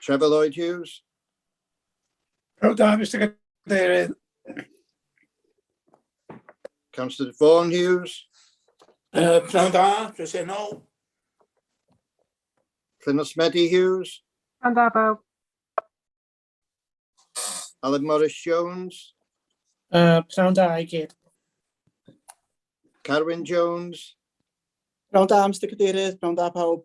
Trevor Lloyd Hughes. Pawb da, Mr Cadeirydd. Councillor Vaughan Hughes. Uh, Pnawn da, presennol. Llynos Medi Hughes. Pnawn da, bawb. Alan Morris Jones. Uh, Pnawn da i gyd. Carwyn Jones. Pnawn da, Mr Cadeirydd. Pnawn da, pawb.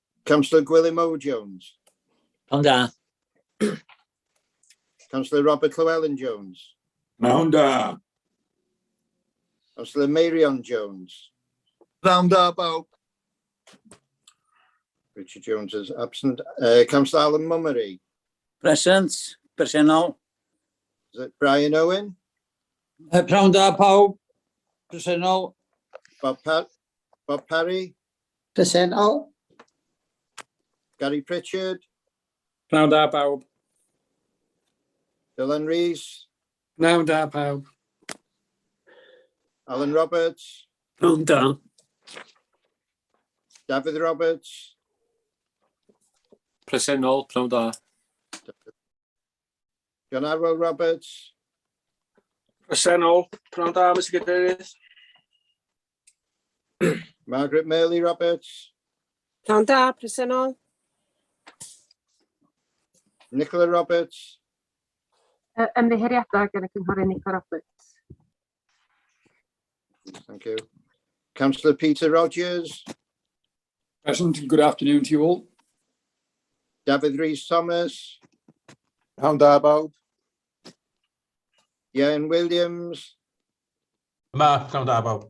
Councillor Gwilym Ow Jones. Yn da. Councillor Robert Llewellyn Jones. Mewn da. Councillor Meirion Jones. Mewn da, bawb. Richard Jones is absent. Uh, Councillor Alan Mummery. Present, presennol. Is it Brian Owen? Uh, Prawn da, pawb. Presennol. Bob, pa Bob Parry? Presennol. Gary Pritchard. Pnawn da bawb. Dylan Rees. Pnawn da pawb. Alan Roberts. Pnawn da. Dafydd Roberts. Presennol, pnawn da. John Arwel Roberts. Presennol. Pnawn da, Mr Cadeirydd. Margaret Merley Roberts. Pnawn da, presennol. Nicola Roberts. Ymddiheuriadau gan y Cynghorydd Nicola Roberts. Thank you. Councillor Peter Rogers. Present. Good afternoon to you all. Dafydd Rhys Thomas. Pnawn da bawb. Ian Williams. Yma, pnawn da bawb.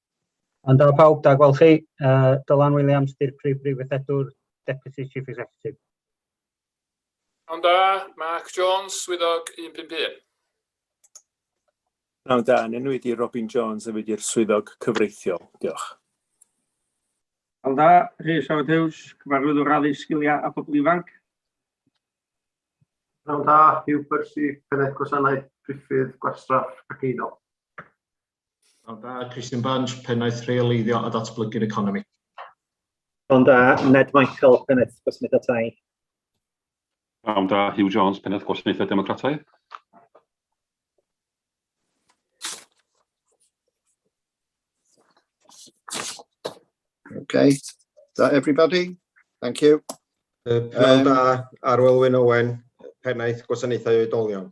Yn da pawb, da gweld chi. Uh, Dylan Williams, di'r prif brifwythedwr, Deputy Chief Executive. Yn da, Mark Jones, swyddog 151. Yn da, yn enw i Robin Jones, a fi di'r swyddog cyfreithiol. Diolch. Yn da, Rhys Howard Hughes, cyfarwyddwr addysg sgiliau a phobl ifanc. Yn da, Hugh Percy, pennaeth gwasanaeth priffydd gwastraff ac eiddo. Pnawn da, Christian Bange, Pennaeth Rheoleiddio a Datblygu'r Economi. Pnawn da, Ned Michael, Pennaeth Gwasanaethau Tai. Pnawn da, Hugh Jones, Pennaeth Gwasanaethau Democrataidd. Okay, is that everybody? Thank you. Pnawn da, Arwelwyn Owen, Pennaeth Gwasanaethau Oedolion.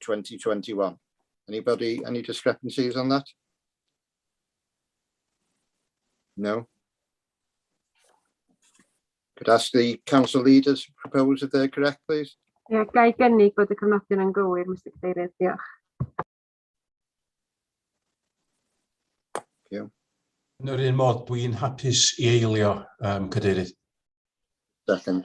2021. Anybody, any discrepancies on that? No? Could ask the council leaders to propose if they're correct, please. Ie, ga i gynnig bod y cyfnodion yn gywir, Mr Cadeirydd, diolch. Yn yr un modd, dwi'n hapus i eilio, um, Cadeirydd. Second.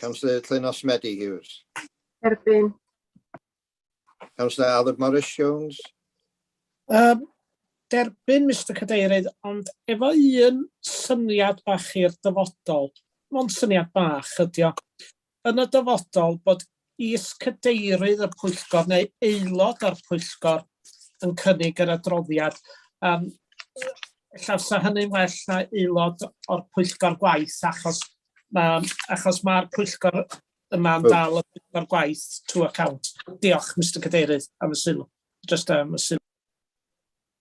Councillor Llenos Medi Hughes. Erbyn. Councillor Aled Morris Jones. Um, derbyn, Mr Cadeirydd, ond efo un syniad bach i'r dyfodol, mond syniad bach ydio, yn y dyfodol bod Y Is-Cadeirydd y Pwyllgor neu aelod o'r Pwyllgor yn cynnig yr adroddiad. Um, ella sa hynny'n well na aelod o'r pwyllgor gwaith achos mae achos mae'r pwyllgor yma'n dal y pwyllgor gwaith to account. Diolch Mr Cadeirydd am y sylw. Just am y sylw.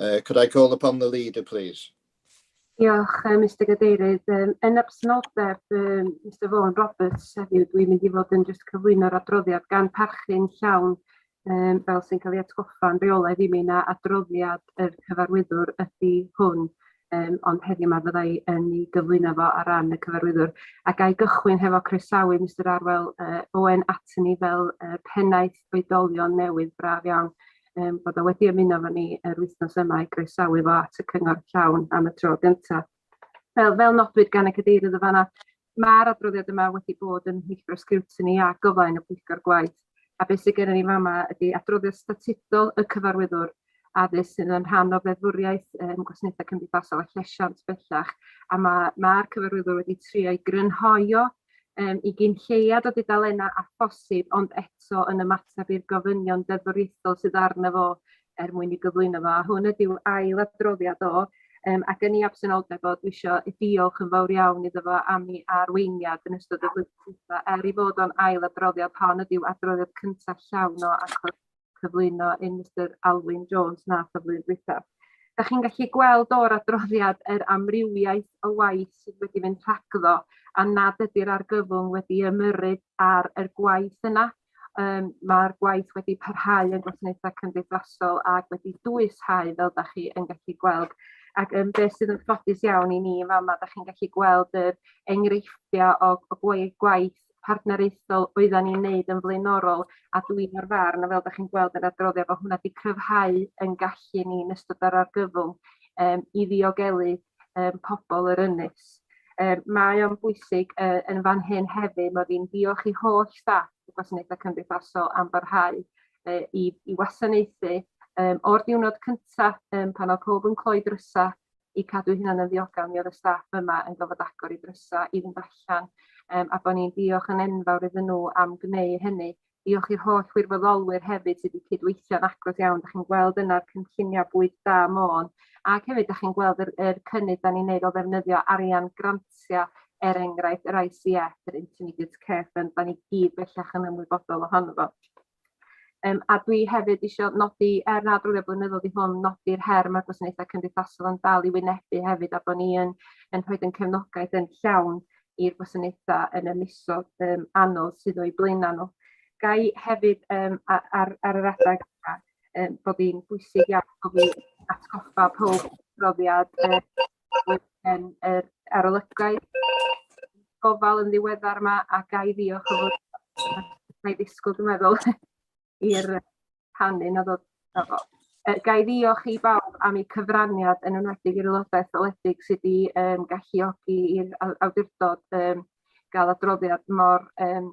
Uh, could I call upon the leader, please? Diolch, uh, Mr Gadeirydd. Um, yn absenoldeb um, Mr Vaughan Roberts heddiw, dwi'n mynd i fod yn just cyflwyno'r adroddiad gan parchu'n llawn um, fel sy'n cael ei atgoffa'n reolaidd i mi na adroddiad yr cyfarwyddwr ydy hwn um, ond heddiw yma fyddai yn ei gyflwyno fo ar ran y cyfarwyddwr. A gael gychwyn hefo croesawu Mr Arwel uh, Owen atyn ni fel uh, pennaeth oedolion newydd braf iawn. um, bod o wedi ymuno fo ni yr wythnos yma i groesawu fo at y cyngor llawn am y tro gyntaf. Fel, fel nodwyd gan y cadeirydd y fanna, mae'r adroddiad yma wedi bod yn hwyllgor sgriwtini a gofain y pwyllgor gwaith, a beth sydd gennym ni fama ydy adroddiad statudol y cyfarwyddwr addysg sydd yn rhan o feddwriaeth um, gwasanaethau cymdeithasol a llesiant bellach, a mae'r ma, ma cyfarwyddwr wedi trio i grynhoio yym i gyn lleiad o dudalennau â phosib ond eto yn ymateb i'r gofynion deddfwriaethol sydd arno fo er mwyn ei gyflwyno fo a hwn ydyw ail adroddiad o yym ac yn ei absenoldeb o dwi isio diolch yn fawr iawn iddo fo am ei arweiniad yn ystod y flwyddyn dwitha er ei fod o'n ail adroddiad hon ydyw adroddiad cyntaf llawn o achos cyflwyno yn Mister Alwyn Jones nath y flwyddyn dwytha. Da chi'n gallu gweld o'r adroddiad yr amrywiaeth o waith sydd wedi mynd rhagddo a nad ydy'r argyfwng wedi ymyrryd ar yr gwaith yna. Um, Mae'r gwaith wedi parhau yn gwasanaethau cymdeithasol ac wedi dwyshau fel da chi yn gallu gweld. Ac um, beth sydd yn ffodus iawn i ni yn fama, da chi'n gallu gweld yr enghreifftiau o, o gwaith partneriaethol oeddan ni'n neud yn flaenorol a dwi o'r farn a fel 'dach chi'n gweld yr adroddiad bo' hwnna 'di cryfhau yn gallu ni yn ystod yr argyfwng yym i ddiogelu yym pobol yr ynys. Yy mae o'n bwysig yy yn fan hyn hefyd mod i'n diolch i holl staff y gwasanaethe cymdeithasol am barhau yy i i wasanaethu yym o'r diwrnod cynta yym pan o'dd powb yn cloi drysa i cadw hynna'n yn ddiogel mi oedd y staff yma yn gofod agor i drysa i fynd allan um, a bod ni'n diolch yn enfawr iddyn nhw am gneu hynny. Diolch i'r holl wirfoddolwyr hefyd sydd wedi cydweithio'n agos iawn. Da chi'n gweld yna'r cynlluniau bwyd da môn ac hefyd da chi'n gweld yr, yr cynnydd da ni'n neud o ddefnyddio arian grantiau er enghraifft yr ICF, yr Intermediate Care Fund, da ni gyd bellach yn ymwybodol ohono fo. Um, a dwi hefyd eisiau nodi, er nad rwy'n blynyddol i hwn, nodi'r her mae'r gwasanaethau cymdeithasol yn dal i wynebu hefyd, a bod ni yn, yn rhoi yn cefnogaeth yn llawn i'r gwasanaethau yn y misodd um, anodd sydd o'i blaenau nhw. Gai hefyd um, ar, ar, ar yr adeg um, bod hi'n bwysig iawn bod ni'n atgoffa pob profiad um, yn yr arolygaeth gofal yn ddiweddar yma a ga i ddiolch o fod mae ddisgwyl dwi'n meddwl i'r canu na ddod na fo. Uh, ga i ddiolch i bawb am eu cyfraniad yn enwedig i'r aelodau etholedig sydd wedi um, galluogi i'r awdurdod um, gael adroddiad mor um,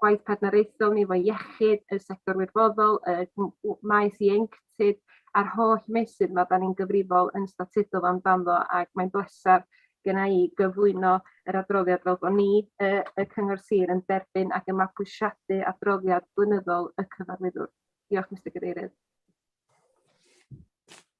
gwaith partneriaethol ni efo iechyd, y sector wirfoddol, y m- w- maes ieuenctid a'r holl meysydd ma' 'dan ni'n gyfrifol yn statudol amdano ac mae'n bleser genna i gyflwyno yr adroddiad fel bo' ni y y cyngor sir yn derbyn ac yn mabwysiadu adroddiad blynyddol y cyfarwyddwr. Diolch Mister Cadeirydd.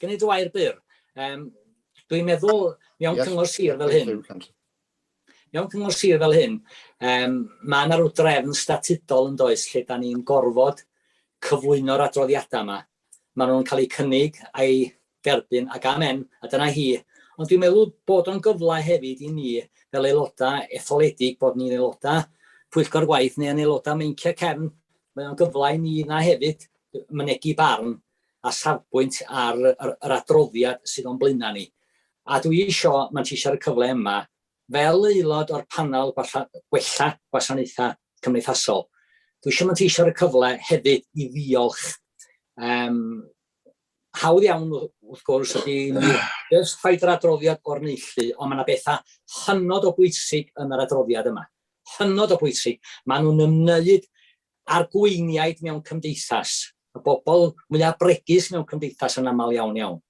Gen i dy wair byr. Um, Dwi'n meddwl, mewn yes, cyngor sir fel hyn, mewn cyngor sir fel hyn, um, mae yna rhyw drefn statudol yn does lle da ni'n gorfod cyflwyno'r adroddiadau yma. Mae nhw'n cael eu cynnig a'i derbyn ac amen, a dyna hi. Ond dwi'n meddwl bod o'n gyfle hefyd i ni fel aelodau etholedig bod ni'n aelodau pwyllgor gwaith neu yn aelodau meinciau cefn, mae o'n gyfle i ni na hefyd mynegi barn a safbwynt ar yr adroddiad sydd o'n blaenau ni. A dwi isio manteisio y cyfle yma fel aelod o'r panel gwella gwasanaethau cymdeithasol. Dwi eisiau manteisio y cyfle hefyd i ddiolch um, hawdd iawn wrth gwrs ydy just rhaid yr adroddiad o'r neilltu, ond mae yna bethau hynod o bwysig yn yr adroddiad yma. Hynod o bwysig. Maen nhw'n ymwneud a'r gweiniaid mewn cymdeithas. y bobl mwyaf bregus mewn cymdeithas yn aml iawn iawn.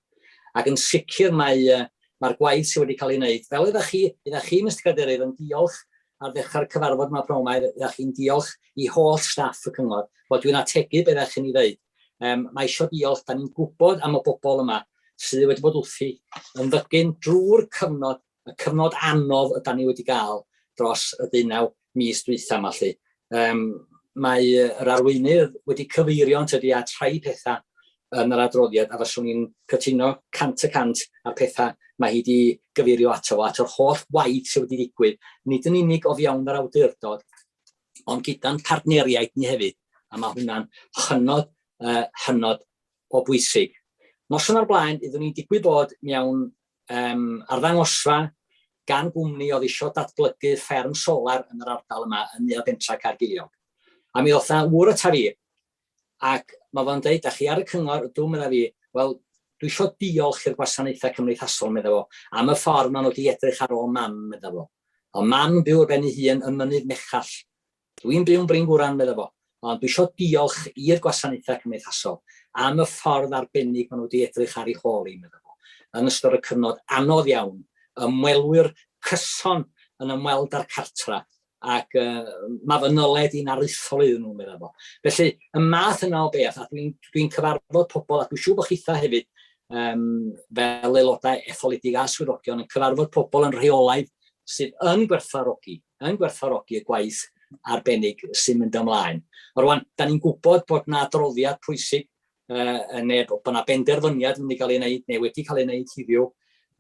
Ac yn sicr mae mae'r gwaith sydd wedi cael ei wneud, fel oeddech chi, oeddech chi, Mister Cadeirydd, yn diolch ar ddechrau'r cyfarfod yma pnawn yma, oeddech chi'n diolch i holl staff y cyngor, wel dwi'n ategu beth ddech chi'n ei ddeud. Um, mae eisiau diolch, da ni'n gwybod am y bobl yma sydd wedi bod wrthi yn ddygyn drwy'r cyfnod y cyfnod anodd ydan ni wedi gael dros y deunaw mis dwytha yma lly. Um, mae yr arweinydd wedi cyfeirio yn tydi at rhai pethau yn yr adroddiad a faswn i'n cytuno cant y cant a'r pethau mae hi wedi gyfeirio ato fo, at yr holl waith sydd wedi digwydd, nid yn unig o fiawn yr awdurdod, ond gyda'n partneriaid ni hefyd, a mae hwnna'n hynod, uh, hynod o bwysig. Noson o'r blaen, iddyn ni'n digwydd bod mewn um, arddangosfa gan gwmni oedd eisiau datblygu fferm solar yn yr ardal yma yn Nea Bentra Caergiliog. A mi oedd yna wr y ta fi, ac mae fo'n dweud, a chi ar y cyngor, dwi'n meddwl fi, wel, dwi eisiau diolch i'r gwasanaethau cymdeithasol, meddwl fo, am y ffordd maen nhw wedi edrych ar ôl mam, meddwl fo. O mam byw ar ben ei hun yn mynydd mechall, Dw i'n byw'n Bryngwran, medda fo, ond dw isio diolch i'r gwasanaethau cymdeithasol am y ffordd arbennig maen nhw wedi edrych ar ei hôl hi, medda fo. Yn ystod y cyfnod anodd iawn, ymwelwyr cyson yn ymweld â'r cartref ac mae fy nyled i'n aruthrol iddyn nhw, medda fo. Felly, y math yna o beth, a dw i'n dw i'n cyfarfod pobl, a dwi'n siŵr bod chithau hefyd, um, fel aelodau etholedig a swyddogion, yn cyfarfod pobl yn rheolaidd sydd yn gwerthfawrogi yn gwerthfawrogi y gwaith arbennig sy'n mynd ymlaen. Rwan, da ni'n gwybod bod yna adroddiad pwysig, uh, neu bod yna benderfyniad yn mynd i gael ei wneud, neu wedi cael ei wneud hiddiw.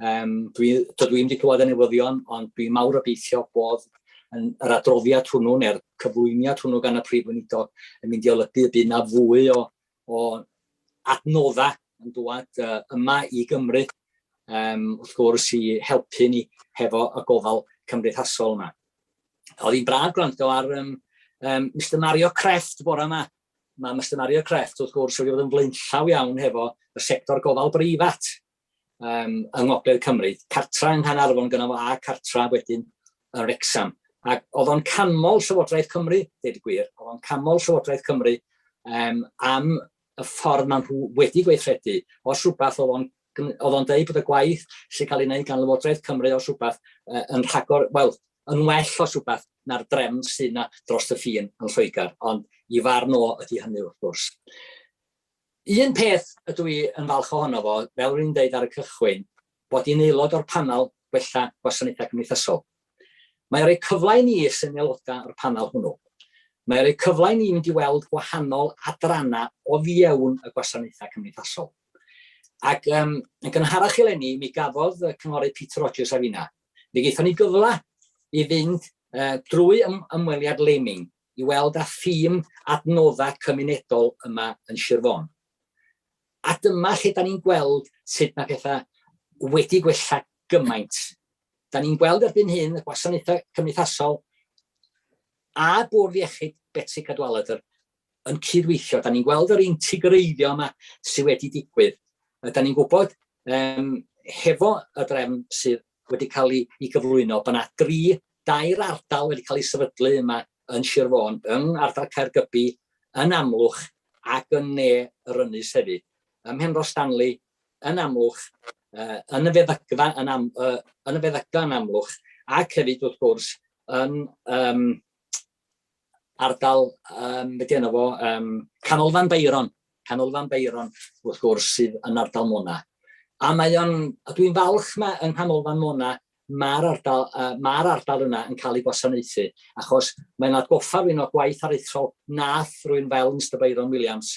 Um, dwi, dydw i'n wedi clywed y newyddion, ond dwi'n mawr obeithio bod yn yr adroddiad hwnnw neu'r cyflwyniad hwnnw gan y Prif Weinidog yn mynd i olygu y bydd yna fwy o o adnoddau yn dŵad uh, yma i Gymru, um, wrth gwrs, i helpu ni hefo y gofal cymdeithasol yma. Oedd hi'n braf gwrando ar um, um, Mr Mario Creft bore yma. Mae Mr Mario Creft, wrth gwrs, wedi bod yn flaenllaw iawn hefo y sector gofal breifat um, yng Ngogledd Cymru, cartra yng Nghanarfon gyda fo a cartra wedyn yn Wrexham. Ac oedd o'n canmol Llywodraeth Cymru, dweud y gwir, oedd o'n canmol Llywodraeth Cymru um, am y ffordd maen nhw wedi gweithredu. Os rhywbeth oedd o'n oedd o'n dweud bod y gwaith sy'n cael ei wneud gan Lywodraeth Cymru os rhywbeth uh, yn rhagor, wel, yn well os rhywbeth na'r drefn sy'n na dros y ffin yn Lloegr, ond i farn o ydy hynny wrth gwrs. Un peth ydw i yn falch ohono fo, fel ro'n i'n deud ar y cychwyn, bod i'n aelod o'r Panel Gwella Gwasanaethau Cymdeithasol. Mae o'n rhoi cyfle i ni sy'n aelodau o'r panel hwnnw, mae o'n rhoi cyfle i ni mynd i weld gwahanol adrannau o fiewn y gwasanaethau cymdeithasol. Ac um, yn gynharach eleni, mi gafodd y cynghorydd Peter Rogers a finna, mi gaethon ni gyfle i fynd uh, drwy ym ymweliad Leming, i weld â thîm Adnoddau Cymunedol yma yn Sir Fôn. A dyma lle 'dan ni'n gweld sut mae pethau wedi gwella gymaint. 'Dan ni'n gweld erbyn hyn y gwasanaethau cymdeithasol a bwrdd iechyd Betsi Cadwaladr yn cydweithio. 'Dan ni'n gweld yr integreiddio yma sydd wedi digwydd. 'Dan ni'n gwybod, um, hefo y drefn sydd wedi cael ei ei gyflwyno, bod 'na dri, dair ardal wedi cael eu sefydlu yma yn Sir Fôn, yng ngardal Caergybi, yn Amlwch ac yn ne yr ynys hefyd. Ym Mhenrhos Stanley, yn Amlwch, uh, yn y feddygfa yn, am, uh, yn y feddygfa yn Amlwch, ac hefyd wrth gwrs yn um, ardal, um, beth yna fo, um, Canolfan Beiron, Canolfan Beiron, wrth gwrs, sydd yn ardal Mona. A mae o'n, a dwi'n falch mae yng Nghanolfan Mona, mae'r ardal, uh, ma ardal yna yn cael ei gwasanaethu, achos mae'n atgoffa rwy'n o gwaith aruthrol nath rwy'n fel Mr Byron Williams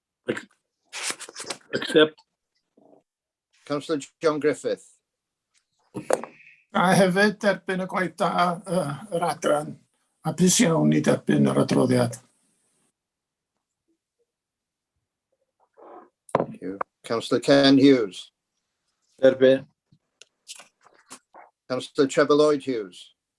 Accept. Councillor John Griffith. A hefyd derbyn y gwaith da uh, yr adran a pus iawn i derbyn yr adroddiad. Thank you. Councillor Ken Hughes. Derbyn. Councillor Trevor Lloyd Hughes.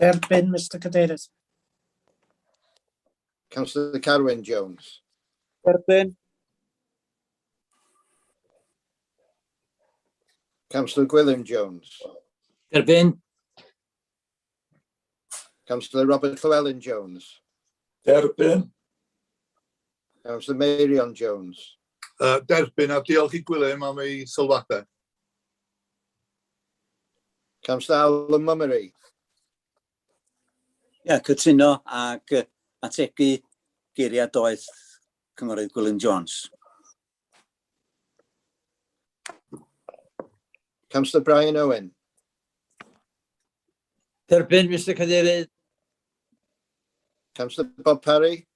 Derbyn, Mister Cadeirydd. Councillor Carwyn Jones. Derbyn. Councillor Gwilym Jones. Derbyn. Councillor Robert Llewellyn Jones. Derbyn. Councillor Meirion Jones. Uh, derbyn a diolch i Gwilym am ei sylwadau. Camsnau y Mymru. Ia, cytuno ac yy, ategu geiriau doeth Cynghorydd Gwilym Jones. Councillor Brian Owen. Derbyn, Mr Cadeirydd. Councillor Bob Parry.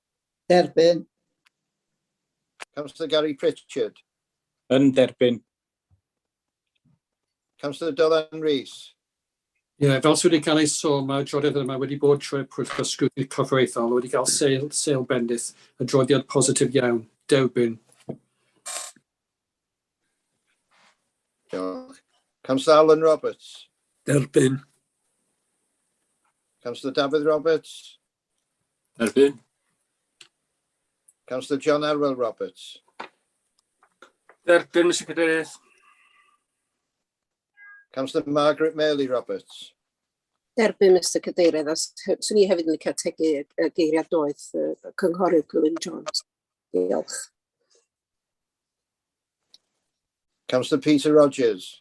Derbyn. Councillor Gary Pritchard. Yn derbyn. Councillor Dylan Rees. Ie, yeah, fel sydd wedi cael ei sôn, mae'r adroddiad yma wedi bod trwy'r pwyllgor sgwydni corfforaethol, wedi cael seil, seil bendith, adroddiad positif iawn, derbyn. Diolch. Councillor Alan Roberts. Derbyn. Councillor Dafydd Roberts. Erbyn. Councillor John Arwel Roberts. Derbyn, Mr Cadeirydd. Councillor Margaret Mealy Roberts. Derbyn, Mr Cadeirydd, a swn i hefyd yn licio tegu y geiriad doeth y cynghorydd Gwilym Jones. Diolch. Councillor Peter Rogers.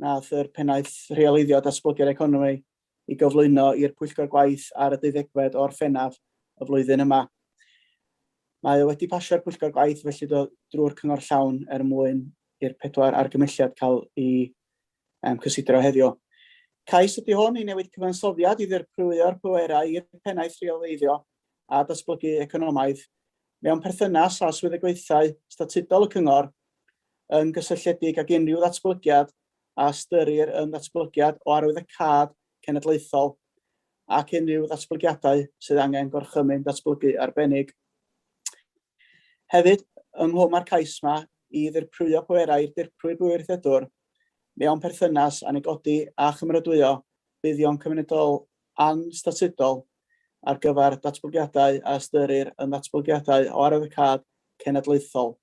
wnaeth yr Pennaeth Rheoleiddio Datblygu'r Economi i gyflwyno i'r Pwyllgor Gwaith ar y deuddegfed o Orffennaf y flwyddyn yma. Mae o wedi pasio'r Pwyllgor Gwaith felly do, drwy'r Cyngor Llawn er mwyn i'r pedwar argymelliad cael i um, cysidro heddiw. Cais ydy hwn i newid cyfansoddiad i ddirprwyo'r pwerau i'r Pennaeth Rheoleiddio a Datblygu Economaidd mewn perthynas â swyddogaethau statudol y Cyngor, yn gysylltiedig ag unrhyw ddatblygiad a ystyrir yn ddatblygiad o arwyddocâd cenedlaethol ac unrhyw ddatblygiadau sydd angen gorchymyn datblygu arbennig. Hefyd, ynghlwm â'r cais yma i ddirprwyo pwerau i'r dirprwy bwriadwr mewn perthynas â negodi a chymeradwyo buddion cymunedol anstatudol ar gyfer datblygiadau a ystyrir yn ddatblygiadau o arwyddocâd cenedlaethol,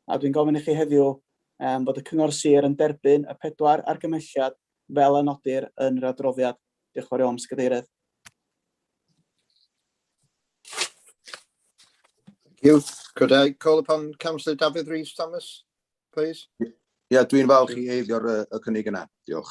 a dwi'n gofyn i chi heddiw am fod y Cyngor Sir yn derbyn y pedwar argymhelliad fel a nodir yn yr adroddiad. Diolch yn fawr iawn, Mister Cadeirydd. you. Could I call upon Councillor Dafydd Rees Thomas, please? Ie, yeah, dwi'n falch i eiddio'r y cynnig yna. Diolch.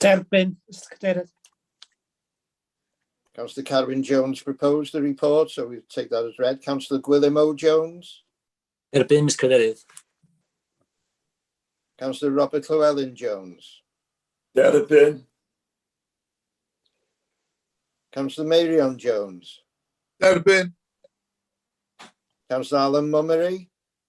Derbyn, Mr Cadeirydd. Councillor Carwyn Jones proposed the report, so we take that as read. Councillor Gwilym O Jones. Derbyn, Mr Cadeirydd. Councillor Robert Llewellyn Jones. Derbyn. Councillor Meirion Jones. Derbyn. Councillor Alan Mummery.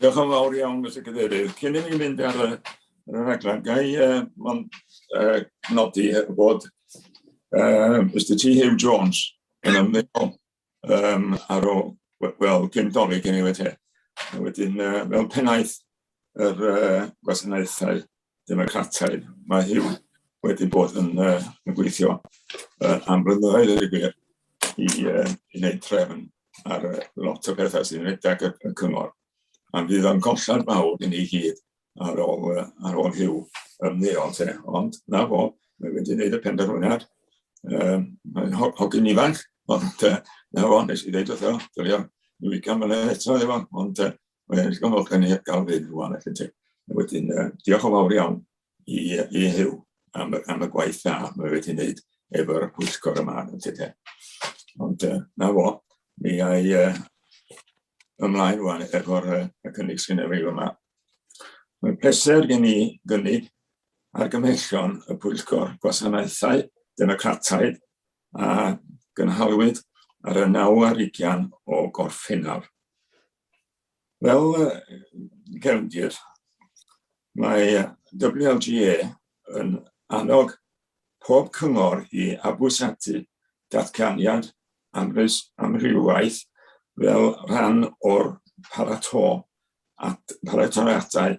Diolch yn fawr iawn, Mr Cadeirydd. Cyn i ni fynd ar y, ar y rhaglen, ga i uh, mon, uh, nodi bod uh, Mr T Hugh Jones yn ymwneud um, ar ôl, wel, cyn doli gen i wedi. Wedyn, uh, fel pennaeth yr uh, gwasanaethau Democrataidd. Mae Huw wedi bod yn, uh, yn gweithio uh, am blynyddoedd yn y gwir i, uh, i wneud trefn ar uh, lot o bethau sy'n rhedeg y, y cyngor. Am fydd o'n collad mawr i ni gyd ar ôl, uh, ar ôl Huw ymddeol te. Ond na fo, mae wedi gwneud y penderfyniad. Um, mae'n hogyn ifanc, ond uh, na fo, nes i ddeud wrtho, dylio i wicio mlynedd eto efo, ond uh, Wel, diolch yn fawr gen i gael fynd rwan, felly ti. Wedyn, uh, diolch yn fawr iawn i, i Huw am, am y gwaith dda mae wedi wneud efo'r pwyllgor yma yn tyde. Ond uh, na fo, mi ai uh, ymlaen rwan efo'r uh, y cynnig sy'n ei yma. Mae pleser gen i gynnig argymhellion y Pwyllgor Gwasanaethau Democrataidd a gynhalwyd ar y 9 ar 20 o Gorffennaf. Fel cefndir, mae WLGA yn annog pob cyngor i fabwysiadu datganiad amrywiaeth fel rhan o'r paratoi at baratoadau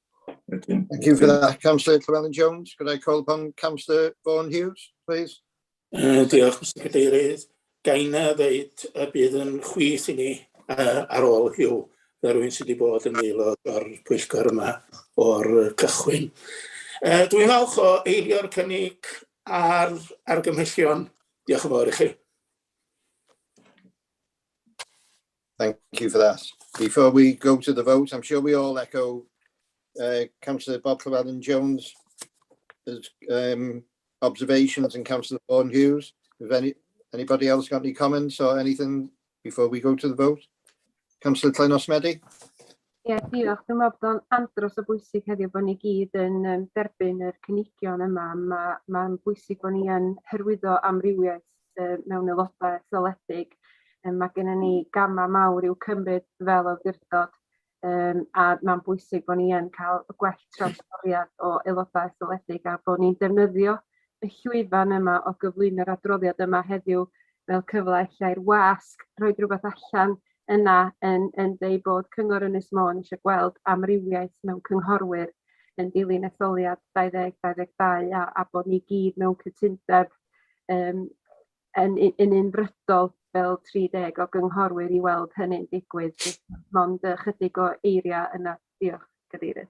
Wedyn. Thank you for that, Councillor Llewellyn Jones. Could I call upon Councillor Vaughan Hughes, please? Uh, diolch, Mr Cadeirydd. Gain a ddeud y bydd yn chwith i ni uh, ar ôl hiw fel rhywun sydd wedi bod yn aelod o'r pwyllgor yma o'r cychwyn. Uh, dwi'n falch o eilio'r cynnig ar argymhellion. Diolch yn fawr i chi. Thank you for that. Before we go to the vote, I'm sure we all echo uh, Councillor Bob Llewellyn Jones' um, observations and Councillor Vaughan Hughes. If any, anybody else got any comments or anything before we go to the vote? Councillor Clynos Medi? Ie, yeah, diolch. Dwi'n meddwl bod o'n andros o bwysig heddiw bod ni gyd yn um, derbyn yr cynigion yma. Mae'n ma, ma bwysig bod ni yn hyrwyddo amrywiaeth yy mewn aeloda etholedig yym ma' gynnon ni gama' mawr i'w cymryd fel awdurdod yym a ma'n bwysig bo' ni yn ca'l y gwell trawsbriod o aeloda' etholedig a bo' ni'n defnyddio y llwyfan yma o gyflwyno'r adroddiad yma heddiw fel cyfla ella i'r wasg rhoid rwbeth allan yna yn yn deud bod Cyngor Ynys Môn eisiau gweld amrywiaeth mewn cynghorwyr yn dilyn etholiad 2022 a, a bod ni gyd mewn cytundeb um, yn, yn unfrydol fel 30 o gynghorwyr i weld hynny'n digwydd. Mond ychydig o eiriau yna. Diolch, Cadeirydd.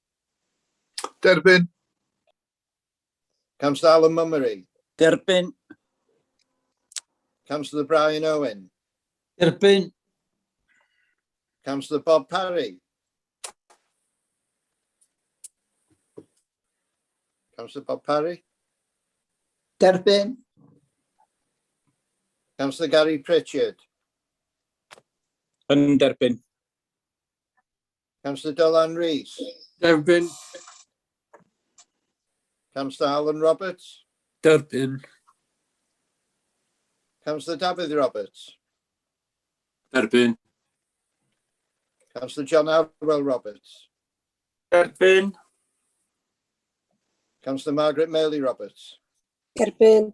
Derbyn. Councillor Alan Mummery. Derbyn. Councillor Brian Owen. Derbyn. Councillor Bob Parry. Councillor Bob Parry. Derbyn. Councillor Gary Pritchard. Yn derbyn. Councillor Dylan Rees. Derbyn. Councillor Alan Roberts. Derbyn. Councillor Dafydd Roberts. Derbyn. Councillor John Arwell Roberts. Derbyn. Councillor Margaret Meley Roberts. Derbyn.